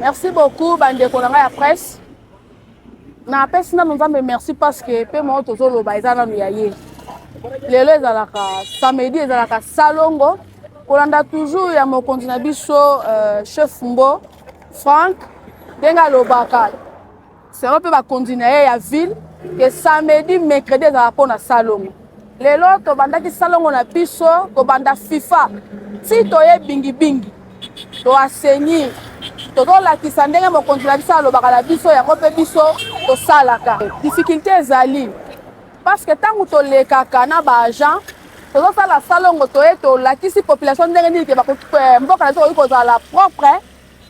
Merci beaucoup bandeko na ngai ya presse. Napesi nanu Nzambe merci parce que pe moko tozoloba eza nanu ya ye. Lelo ezalaka samedi ezalaka salongo kolanda toujours ya mokonzi na biso euh, chef Mbo Frank ndenge alobaka Selon mpe bakonzi na ye ya ville ke samedi mercredi ezala mpo na salongo. Lelo tobandaki salongo na biso kobanda FIFA ti toye bingibingi to asenir tozolakisa ndenge mokonzi na biso alobaka na biso yango mpe biso tosalaka. Difficulte ezali parce que ntango tolekaka na ba agent tozosala salongo toye tolakisi population ndenge nini ke eh, mboka na biso koki kozala propre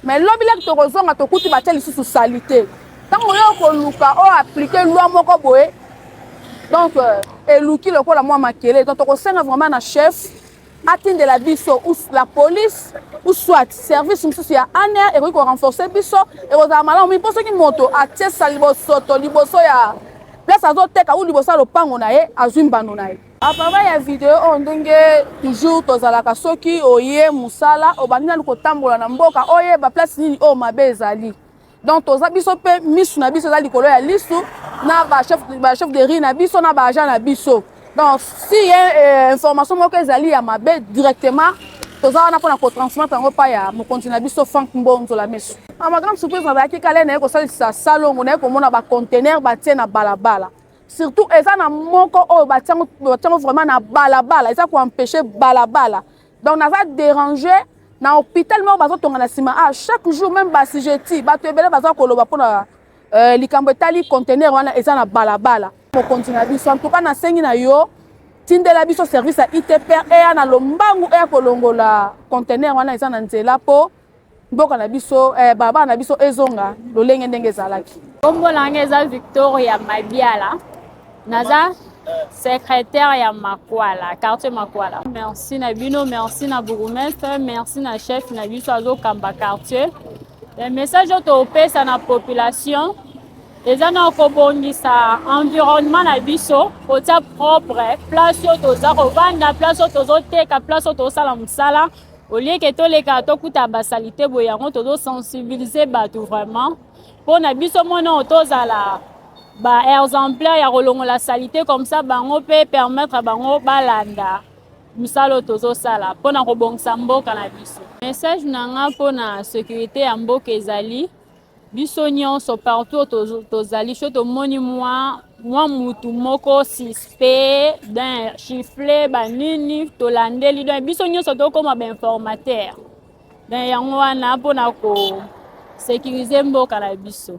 Mais lobi laki tokozonga tokuti batye lisusu salite ntango yo okoluka o aplike lwa moko boye donc euh, eluki lokola mwa makele donc tokosenga vraiment na chef atindela biso la police ou soit service mosusu ya aner ekoki korenforce biso ekozala malamu mingi mpo soki moto atiesa libosoto liboso ya place azoteka ou liboso ya lopango na ye azwi mbano na ye A papa ya video oyo ndenge toujours tozalaka soki oye musala obandi nanu kotambola na mboka oyeba place nini oyo mabe ezali donc toza biso mpe misu na biso eza likolo ya lisu na bachef de riz na biso na baagent na biso donc si ye eh, information moko ezali ya mabe directement toza wana mpona kotransmettre yango epai ya mokonzi na biso frank mbonzo la misu na magrande surprise nazalaki kale naye kosalisa salongo naye komona bacontenaire batie na balabala surtout eza na moko oyo batiango batiango vraiment na balabala eza ko empêcher balabala donc naza déranger na hôpital moko bazotonga na nsima a ah, chaque jour même basijeti bato ebele baza koloba mpo na euh, likambo etali contener wana eza na balabala mokonzi na biso antuka nasengi na yo tindela biso service ya itpr eya na lombangu eya kolongola contener wana eza na nzela mpo Mboka na biso eh, balabala na biso ezonga lolenge ndenge ezalaki. Kombo na ngai eza Victoria Mabiala. Naza secrétaire ya Makwala, quartier Makwala. Merci na bino, merci na bourgmestre, merci na chef na biso azokamba quartier. Le message oyo topesa na population eza na kobongisa environnement na biso kotia propre place oyo toza kovanda place oyo tozoteka place oyo tozosala mosala au lieu que toleka tokuta ba salite boye yango tozo sensibiliser bato vraiment mpo na biso mona oyo tozala ba exemplaire ya kolongola salite comme ça bango mpe permettre bango balanda mosala oyo tozosala mpo na kobongisa mboka na biso message na nga mpo na securite ya mboka ezali Biso nionso partout oyo tozali soki tomoni mwa mwa mutu moko suspect don chiffle banini tolandeli don biso nyonso tokoma bainformateur don yango wana mpona ko sécuriser mboka na biso